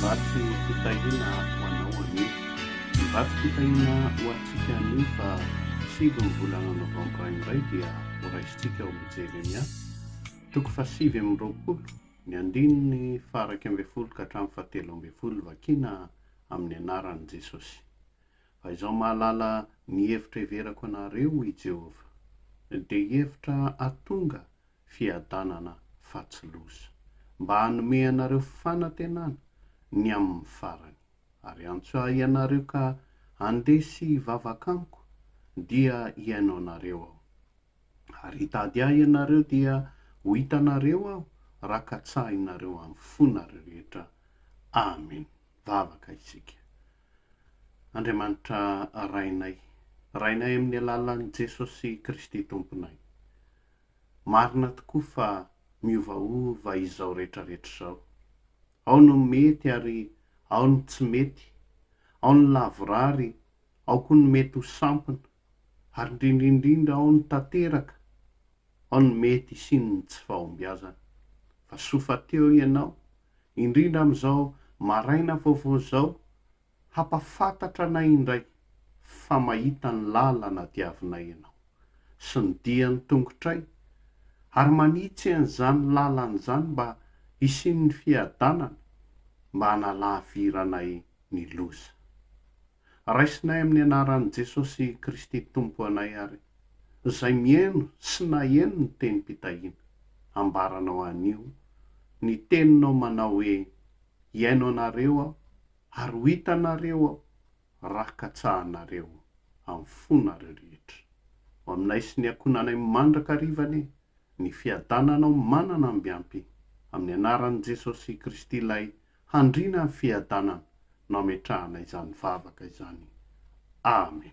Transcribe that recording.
Vatsy fitahiana ho anao anio. Ny vatsy fitahiana ho antsika anio fa sivy ny volana novambra indray dia horaisintsika ao amin'ny Jeremia, toko fahasivy amby roapolo, ny andininy faha-iraika ambin'ny folo ka hatramin'ny fahatelo ambin'ny folo, vakiana amin'ny anaran'i Jesosy. Faizaho mahalala ny hevitra heverako anareo, hoy i Jehovah, dia hevitra hahatonga fiadanana fa tsy loza, mba hanome anareo fanantenana ny amin'ny farany. Ary antso ahy ianareo ka handeha sy hivavaka amiko, dia hihaino anareo aho. Ary hitady ahy ianareo, dia ho hitanareo aho, raha katsahinareo amin'ny fonareo rehetra. Amen. Vavaka isika. Andriamanitra Rainay. Rainay amin'ny alalan'i Jesosy Kristy Tomponay. Marina tokoa fa miovaova izao retraretra izao. Ao no mety ary ao ny tsy mety, ao ny lavorary, ao koa ny mety ho sampona, ary indrindra indrindra ao ny tanteraka, ao ny mety hisian'ny tsy fahombiazana. Fa soa fa teo ianao, indrindra amin'izao maraina vaovao izao, hampafantatra anay indray fa mahita ny lalana diavinay ianao, sy ny dian'ny tongotray, ary manitsy an'izany lalana izany mba hisian'ny fiadanana, mba hanalaviranay ny loza. Raisinay amin'ny anaran'i Jesosy Kristy Tompo anay ary izay mihaino sy naheno ny tenim-pitahiana. Ambaranao anio ny teninao manao hoe, Hihaino anareo aho ary ho hitanareo aho raha katsahanareo amin'ny fonareo rehetra. Ho aminay sy ny ankohonanay mandrakariva anie ny fiadananao manana ambiampy. Amin'ny anaran'i Jesosy Kristy Ilay Handrina ny fiadanana no ametrahana izany vavaka izany. Amen.